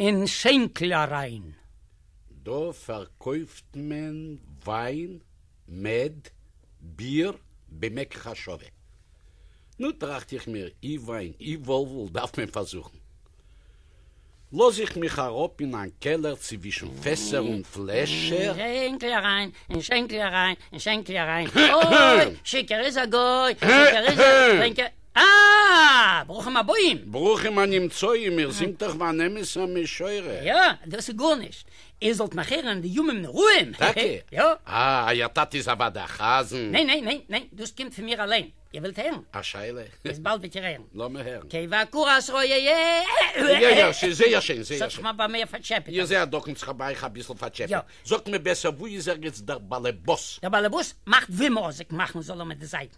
אין שענקל אריין. דא פארקויפט מען וויין, מעד, ביר, במק ח שווה. נו טראכט איך מיר, אי וויין אי וואלוול דארף מען פארזוכן. לאז איך מיך אראפ אין איין קעלער ציווישן פעסער און פלעשער. אין שענקל אריין, אין שענקל אריין, אין שענקל אריין. אוי! שיכור איז א גוי! שיכור איז א טרינקער. אה! ברוכים הבאים! ברוכים הנמצאים, איר זינגט דאך ווי אן אמת'ע משורר. יא, דאס איז גארנישט. איר זאלט נאך הערן די ימים נוראים! טאקע? יא. אה, אייער טאטע איז אוודאי א חזן. ניין ניין ניין ניין, דאס קומט פון מיר אליין. איר ווילט הערן? א שאלה? איז באלד וועט איר הערן. לאמיר הערן. כי בקור אסרו י י. יא יא, ס'איז זייער שיין, זייער שיין. ס'האט זיך מיר ביי מיר פארטשעפעט. איר זעהט דאך אונז כ'האב אייך אביסל פארטשעפעט. יא. זאגט מיר בעסער, וואו איז ערגעץ דער באלעבאס? דער באלעבאס מאכט ווי מוזיק מאכן זאל ער מיט די זייטן.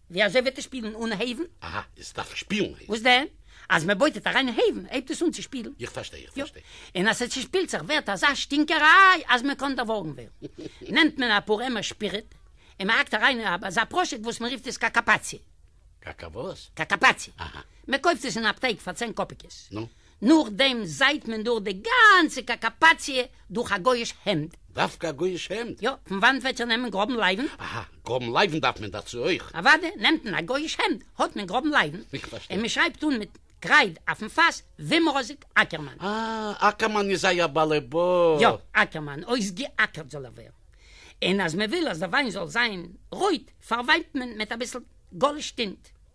ווי אזוי וועט עס שפילן אן הייוון? אהא, עס דארף שפילן הייוון. וואס דען? אז מען בויט עס אריין אין הייוון הייבט עס אן צו שפילן. איך פארשטיי, איך פארשטיי. יא, און אז עס צושפילט זיך ווערט אזא שטינקעריי אז מען קען דערווארגן ווערן. נעמט מען אפאר עמער שפיריט און מען האקט אריין אין אזא פראשוק וואס מען רופט עס קאקאפאציע. קאקא וואס? קאקאפאציע. אהא. מען קויפט עס אין אפטיק פאר צען קאפיקעס. נו? נאכדעם זעיט מען דורך די גאנצע קאקאפאציע דורך א גויאיש העמד. דווקא א גויאיש העמד? יא, פון וואנט וועט איר נעמען גראבן לייוון? אהא, גראבן לייוון דארף מען דערצו אויך? אוואדע, נעמט מען א גויאיש העמד, האט מען גראבן לייוון. איך פארשטיי. און מ'שרייבט אן מיט קרייד אויפן פאס, וומרזיק אקערמאן. אה, אקערמאן איז אייער באלעבאס. יא, אקערמאן, אויסגעאקערט זאל ער ווערן. און אז מ'וויל אז די וויין זאל זיין רויט, פארוויינט מען מיט אביסל גאליש טינט.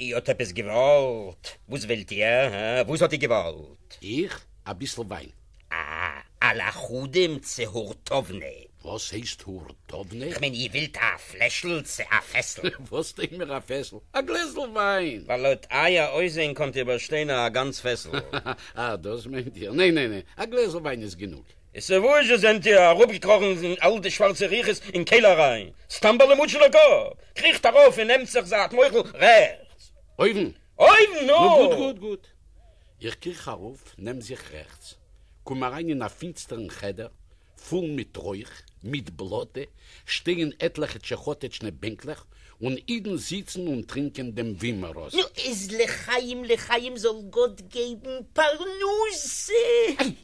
איר האָט עפּעס געװאָלט? װאָס װילט איר? האַ? װאָס האָט איר געװאָלט? איך? אַ ביסל װײַן. אַ, אַ לאַכאָדים צו הורטאָװנע? װאָס הײסט הורטאָװנע? כ'מײן, איר װילט אַ פֿלעשל צו אַ פֿעסל? װאָס טוט מיר אַ פֿעסל? אַ גלעזל װײַן! װײַל לױט אײַער אױסזען קאָנט איר באַשטײן אַ גאַנץ פֿעסל. אַ, דאָס מײנט איר? נײן, נײן, נײן, אַ גלעזל װײַן איז גענוג. איז וואו זשע זענט איר אראפגעקראכן אין אל די שווארצע ריחות אין קעלער אריין? סתם ווייל איר מוטשעט א קאפ? קריכט ארויף און נעמט זיך זייט מוחל רעכטס. אויבן? אויבן! נו גוט גוט גוט. איך קריך ארויף נעם זיך רעכטס. קום אריין אין א פינסטערן חדר פול מיט רויך, מיט בלאטע, שטייען עטליכע טשעכאטעטשנע בענקלעך און אידן זיצן און טרינקען דעם ווימעראס. נו איז לחיים לחיים זאל גאט געבן פרנסה.